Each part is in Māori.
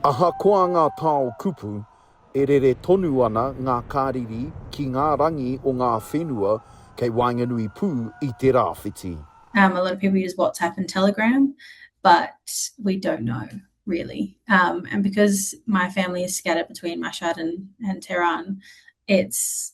Ahakoa ngā tao kupu, e rere tonu ana ngā kariri ki ngā rangi o ngā whenua kei waenganui pū i te rāwhiti. Um a lot of people use WhatsApp and Telegram but we don't know really um and because my family is scattered between Mashhad and and Tehran it's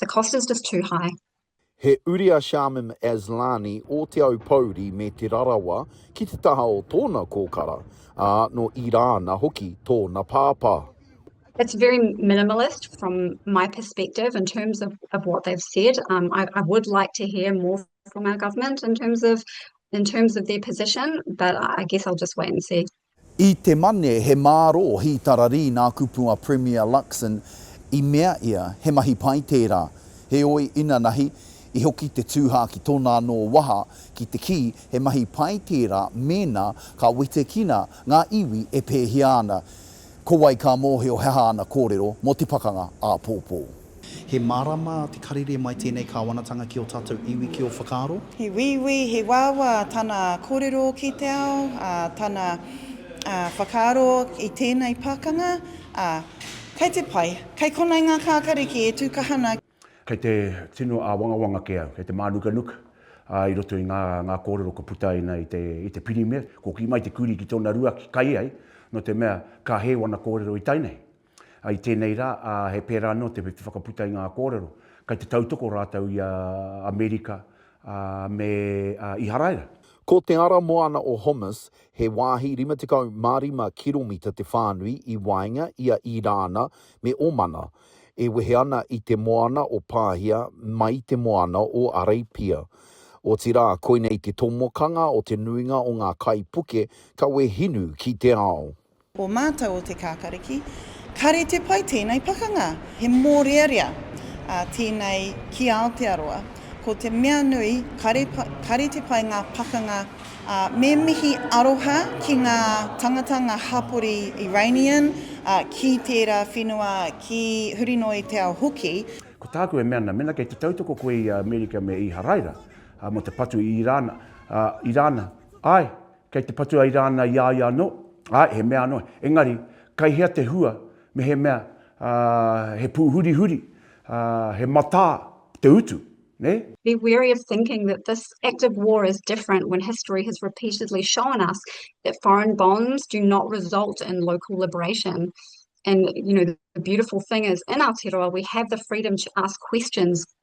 The cost is just too high. He uri a Shamim Aslani o Te Aupōuri me Te Rarawa ki te taha o tōna kōkara, ā, nō Irāna hoki tōna pāpā. It's very minimalist from my perspective in terms of, of what they've said. Um, I, I would like to hear more from our government in terms of in terms of their position, but I guess I'll just wait and see. I te Mane, he mārō hītararī nā Kupua Premier Luxon i mea ia he mahi pai tērā. Heoi, inanahi, i hoki te tūhā ki tōna anō waha ki te kī he mahi pai tērā mēnā ka wetekina ngā iwi e pēhia ana. Ko wai ka mōhio he aha ana kōrero mō te pakanga āpōpō? He mārama te karere mai tēnei kāwanatanga ki ō tātou iwi, ki ō whakaaro. He wīwī, he wāwā tana kōrero ki te ao, tana whakaaro i tēnei pakanga, ā, kei te pai, kei konei ngā kākariki e tū kaha ana. Kei te tino āwangawanga kē au, kei te mānukanuka i roto i ngā kōrero kua puta ai nei i te pirimia. Kua kī mai te kurī ki tōna ruaki, kai ai, nō te mea, ka hē wana kōrero i tae nei. I tēnei rā, ā, he pērā anō te whakaputa i ngā kōrero, kei te tautoko rātou i a Amerika, ā, me a Iharaira. Ko te ara moana o Homs, he wāhi 55 kiromita te whānui i waenga i a Irāna me Omana, e wehe ana i te moana o Pāhia mai te moana o Arēpia. Otirā, koinei te tomokanga o te nuinga o ngā kaipuke kawe hinu ki te ao. O mātou o Te Kākariki. Kāre te pai tēnei pakanga. He mōrearea a tēnei ki Aotearoa. Ko te mea nui, kāre, kāre te pai ngā pakanga ā, me mihi aroha ki ngā tangata, ngā hapori Iranian, ā, ki tērā whenua, ki huri noa i te ao hoki. Ko tāku e mea ana, mēnā kei te tautoko koe i Amerika me Īharaira, ā, mō te patu i Irāna, ā, Irāna, āe, Kei te patua i rāna i a ia anō? Āe, he mea anō. Engari, kei hea te hua, mehemea, ā, he pūhurihuri, ā, he matā te utu, nē? Be wary of thinking that this act of war is different when history has repeatedly shown us that foreign bombs do not result in local liberation. And, you know, the beautiful thing is, in Aotearoa, we have the freedom to ask questions.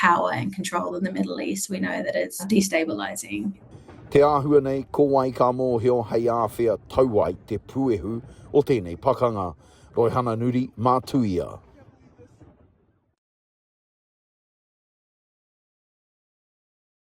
power and control in the Middle East, we know that it's destabilizing. Te āhua nei, ko wai ka mōhio hei āwhea tau ai te puehu o tēnei pakanga. Roihana Nuri, mā Tuia.